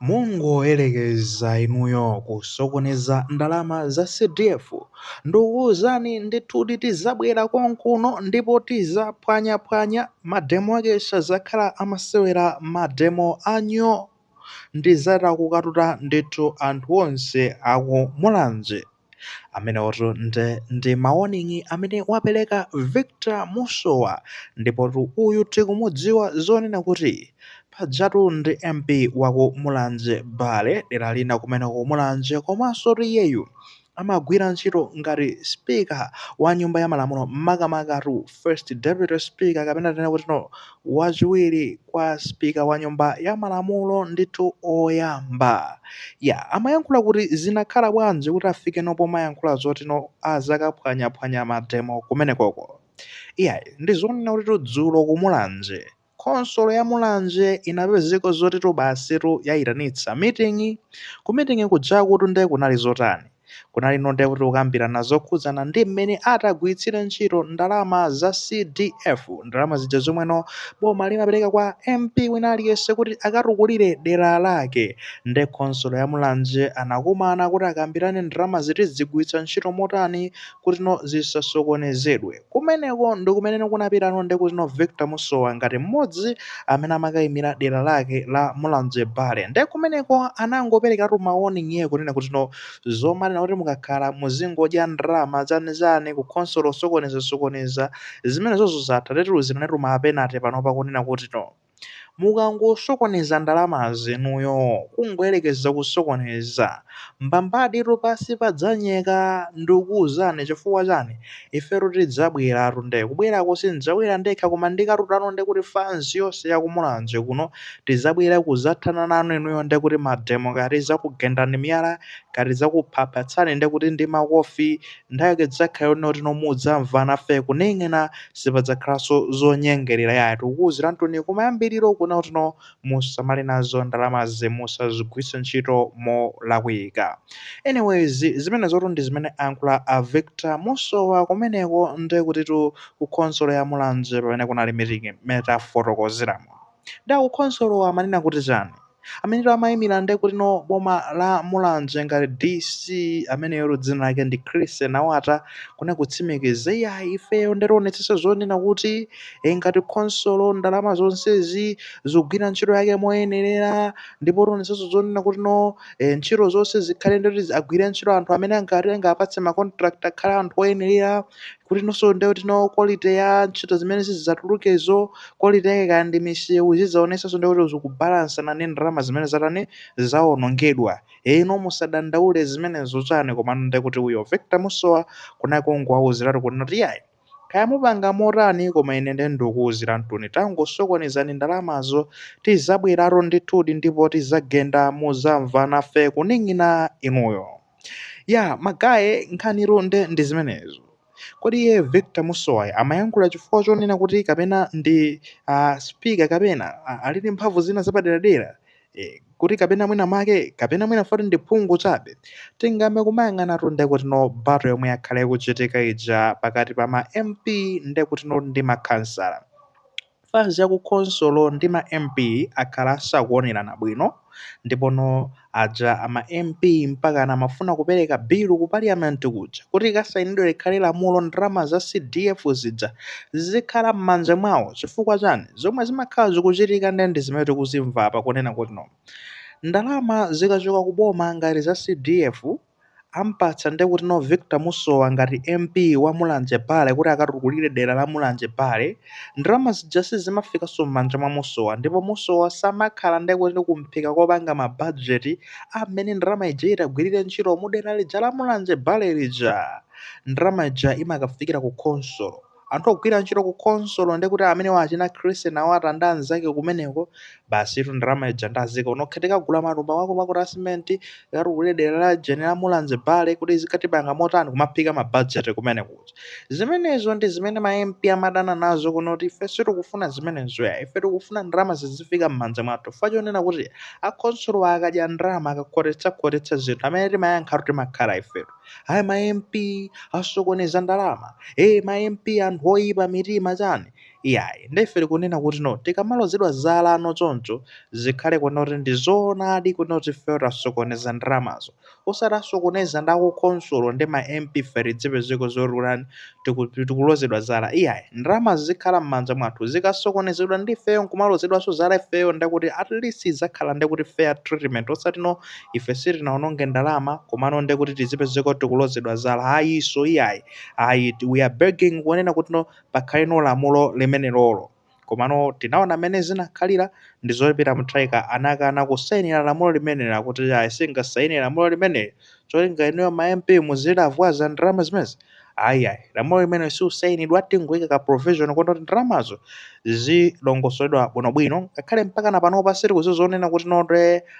Mungoyelekeza inuyo kusokoneza ndalama za CDF ndikuuzani ndithu tizabwera konkuno ndipo tizaphwanyaphwanya mademo ake sazakhala amasewera mademo anyoo ndizatha kukatuta ndithu anthu onse aku mulanje. amenewotu nde ndi mawoningi amene wapereka Victor Musowa ndipotu uyu tikumudziwa zonena kuti pajatu ndi MP waku Mulanje Bale dera lina kumeneko Mulanje komansotu iyeyu amagwira ntchito ngati spika wa nyumba ya malamulo makamakatu First Deputy Speaker kapena tinene kutino wachiwiri kwa speaker wa nyumba ya malamulo ndithu oyamba ya amayankhula kuti zinakhala bwanji kuti afikeno pomayankhula zotino azakaphwanyaphwanya mademo kumenekoko iyayi ndizonena kutitu dzulo ku Mulanje Khonsolo ya Mulanje inapezeka zotitu basitu yaitanitsa meeting. Ku meeting kujakutu nde kunali zotani? Kunalino nde kuti kukambirana zokhudzana ndi mmene atagwiritsire ntchito ndalama za CDF, ndalama zija zomweno boma limapereka kwa MP wina aliyense kuti akatukulire dera lake. Nde khonsolo ya Mulanje anakumana kuti akambirane ndalamazi tizigwiritsa ntchito motani kutino zisasokonezedwe. Kumeneko ndi kumene kunapitano nde kutino Victor Musowa ngati mmodzi amene amakaimira dera lake la Mulanje Bale nde kumeneko anangoperekatu mawoningi iye kunena kutino zomanena kuti mukakhala muzingodya ndalama zanizani ku khonsolo kusokonezasokoneza zimenezozo zatha tidziwiranetu ma penalty panopa kunena kutino Mukangosokoneza ndalamazi inuyo kungoyerekeza kusokoneza mbambaditu pansi padzanyeka ndikukuuzani chifukwa chani ifetu tidzabweratu nde kubwerako sindidzabwera ndekha koma ndikatutano ndekuti fans yonse ya ku Mulanje kuno tidzabwera kudzathana nanu inuyo ndekuti mademo kaya tidzakugendani miyala kaya tidzakuphaphatsani ndekuti ndi makofi Nthawi yake idzakhala yonena kutino mudzamva nafe kuneng'ena sipadzakhalanso zonyengelera iyayi tikukuuziranitu kumayambiliro kunena kutino musamale nazo ndalamazi musazigwiritse ntchito molakwika anyways zimenezotu ndi zimene ayankhula a Victor Musowa kumeneko ndekutitu ku khonsolo ya Mulanje pamene kunali meeting mmene tafotokozeramu. Nde akukhonsolowa amanena kuti chani? Amenetu amayimira nde kutino boma la Mulanje ngati DC ameneyotu dzina lake ndi Chrissy Nawata kunena kutsimikiza iyayi ifeyo nde tionetsetsa zonena kuti ee ngati khonsolo ndalama zonsezi zigwira ntchito yake moyenerera ndipo tionetsetsa zonena kutino ee ntchito zonse zikhale ndekuti agwire ntchito anthu amene angapatse ma contract akhale anthu oyenerera kuti nonso ndiye kutino quality ya ntchito zimene zidzatulukezo quality yake kaya ndi misewu zidzaonetsanso ndiye kuti zikubalansana ndi ndalama zimene zatani zawonongedwa eno musadandaule zimenezo chani komano ndiye kuti uyo Victor Musowa kunali kungowauziratu kunena kuti yayi kaya mupanga motani koma ine ndiye ndikuuziranituni tangosokonezani ndalamazo tizabweratu ndithudi ndipo tizagenda muzamva nafe kuning'a inuyo Yaa ma guy nkhanitu nde ndi zimenezo. Kodi iye Victor Musowayo amayankhula chifukwa chonena kuti kapena ndi ah, speaker kapena ah, ali ndi mphamvu zina zapaderadera? Eh, kuti kapena mwina make kapena mwina foti ndi phungu chabe. Tingayambe kumayang'anatu nde kutino battle yomwe yakhala ikuchitika ija pakati pa ma MP nde kutino ndi makhansala. Fans ya ku khonsolo ndi ma MP akhala asakuonerana bwino ndipo no aja a ma MP mpakana amafuna kupereka bill ku Parliament kuja kuti ikasainidwe likhale lamulo ndalama za CDF zija zizikhala mmanja mwawo chifukwa chani? Zomwe zimakhala zikuchitika nde ndi zimene tikuzimva apa kunena kutino ndalama zikachoka ku boma ngati za CDF Ampatsa ndiye kutino Victor Musowa ngati MP wa Mulanje Bale kuti akatukulire dera la Mulanje Bale, ndalama zija sizimafikanso m'manja mwa Musowa ndipo Musowa samakhala ndiye kuti kumphika kopanga ma budget a m'mene ndalama ija itagwirire ntchito mu dera lija la Mulanje Bale lija. Ndalama ija imakafikira ku khonsolo. Anthu ogwira ntchito ku khonsolo ndekuti amenewa achina Chrissy Nawata ndi anzake kumeneko, basitu ndalama ija ndi aziika. Kuno khe tikagule matumba akuluakulu a cement, tikatukule dera laujeni la Mulanje Bale kuti zikatipanga motani kumaphika ma budget kumeneko. Zimenezo ndi zimene ma MP amadana nazo kunena kuti ife sitikufuna zimenezo ya. Ife tikufuna ndalama zizifika m'manja mwathu. Chifukwa chonena kuti akhonsolowa akadya ndalama, akakhotetsakhotetsa zinthu, amene timayankhatu timakhala ifetu. ayi ma mp asokoneza ndalama e ma mp anthu oyipa mitima chani iyayi ndefe tikunena kutino tikamalozedwa zala no choncho zikhale kunena kuti ndi zoonadi kunena kuti ifeyo tasokoneza ndalamazo osati asokoneza ndi akukhonsolo ndi ma mp ife tizipezeka zoti kutani tiku- tikulozedwa zala iyayi ndalamazo zikhala m'manja mwathu zikasokonezedwa ndi ifeyo nkumalozedwanso zala ifeyo ndekuti at least idzakhala ndekuti fair treatment osatino ife sitinaononge ndalama komano nde kuti tizipezeka tikulozedwa zala ayiso iyayi ayi we are begging kunena kutino pakhale no lamulo limenelolo komano tinaona mmene zinakhalira ndi zoti peter mutharika anakana kusayinira lamulo limeneli akuti ayi sindingasayine lamulo limeneli cholinga inuyo ma mp muzilavwaza ndalama zimenezi Ayi, ayi. Lamulo limenelo silisainidwa, tingoika ka provision yonena kuti ndalamazo zizilongosoledwa bwinobwino. Ngakhale mpakana panopa sitikudziwa zonena kuti no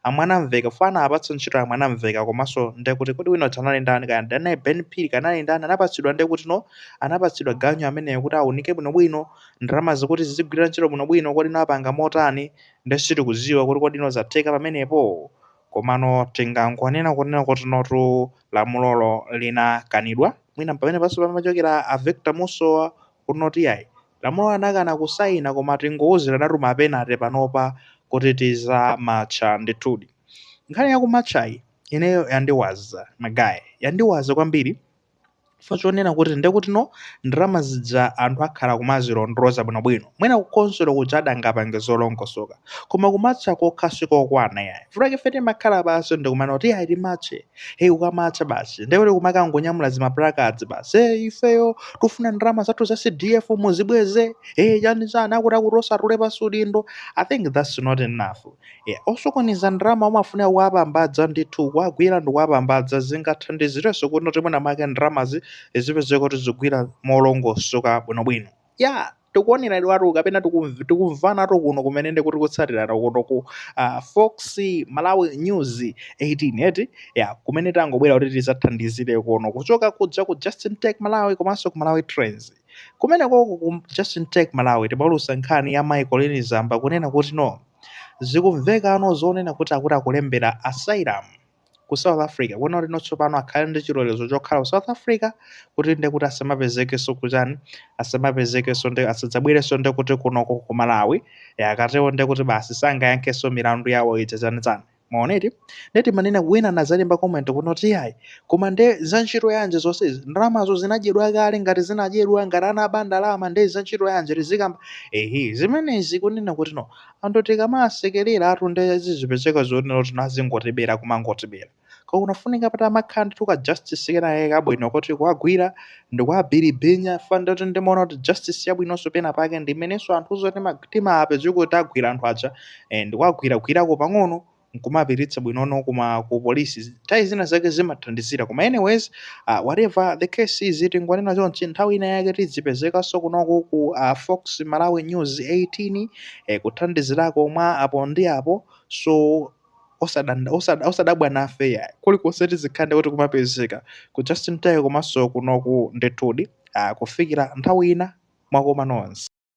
a Mwanamveka chifukwa anawapatsa ntchito a Mwanamveka komanso ndiye kuti kodi wina uja anali ndani kaya ndi anali Ben Phiri kaya anali ndani anapatsidwa ndiye kuti no anapatsidwa ganyu ameneyo kuti aunike bwinobwino ndalamazi kuti zizigwira ntchito bwinobwino kodi anapanga motani ndiye sitikudziwa kuti kodi no zatheka pamenepo. Komano tingangonena kunena kuti notu lamulolo linakanidwa mwina mpamene panso pamachokera a Victor Musowa kuti yayi lamulolo anakana kusaina koma tingouziranatu mapeneti panopa kuti tidzamatcha ndithudi nkhani yakumatchayi ineyo yandiwaza magaiz yandiwaza kwambiri chifukwa chonena kuti ndekuti no ndalama zija anthu akhala kumazilondoloza bwinobwino mwina kukhonsolo kuja adangapange zolongosoka koma kumatcha kokha sikokwana yayi chifukwa ife timakhala pansi ndikumana kuti yayi timatche hey ukamatcha basi ndekuti kumakangonyamula zimaplacards basi hey ifeyo tikufuna ndalama zathu za cdf muzibweze hey chani chani akuti akuti osatule pansi udindo i think that's not enough Eya, osokoneza ndalama amafunika kuwapambadza ndithu, kuwagwira ndi kuwapambadza. Zingathandizirenso kuti no mwina mwake ndalamazi zipezeke kuti zikugwira molongosoka bwinobwino. Ya, tikuonera ndithu kapena tikumv- tikumvanatu kuno kumene ndi kuti kutsatirana kuno ku ah, Fox Malawi News 18 ya kumene tangobwera kuti tidzathandizire kuno kuchoka kuja ku Justin Tech Malawi komanso ku Malawi Trends kumenekoko ku Justin Tech Malawi timaulutsa nkhani ya mai Colleen Zamba kunena kuti no zikumveka no zonena kuti akuti akulembera asylum ku south africa kunena kuti no tsopano akhale ndi chilolezo chokhala ku south africa kuti nde kuti asamapezekenso kuchani asamapezekenso nde asadzabwerenso nde kuti kunoko ku malawi Eh, akatewo nde kuti basi sangayankhenso milandu yawo ija chani chani Mwaona eti? Ndiye timanena wina anadzalemba comment kuti ayi, koma nde za ntchito yanji zonsezi? Ndalamazo zinadyedwa kale, ngati zinadyedwa, ngati anaba ndalama nde za ntchito yanji tizikamba? Ehe, zimenezi kunena kuti no, anthu tikamasekerera tu nde zizipezeka zonena kuti no azingotibera kumangotibera. Koma kunafunika patamakhala ndithu ka justice kena kake kabwino koti kuwagwira ndikuwabiribinya chifukwa nde kuti ndimaona kuti justice yabwinonso pena pake ndi imenenso anthuzo tima- timapezeka kuti tagwira anthu aja eh, ndikuwagwiragwirako pang'ono nkumapititsa bwino koma ku polisi nthawi zina zake zimathandizira koma anyways uh, whatever the case is tingonena chonchi nthawi ina yake tizipezekanso kunoku ku uh, fox malawi news 18 eh, kuthandizirako mwa apo ndi apo so osadanda- osada- osadabwa nafe yayi kulikonse tizikhala nde kuti kumapezeka ku justin tech komanso kunoku ndithudi uh, kufikira nthawi ina mwakoma nonse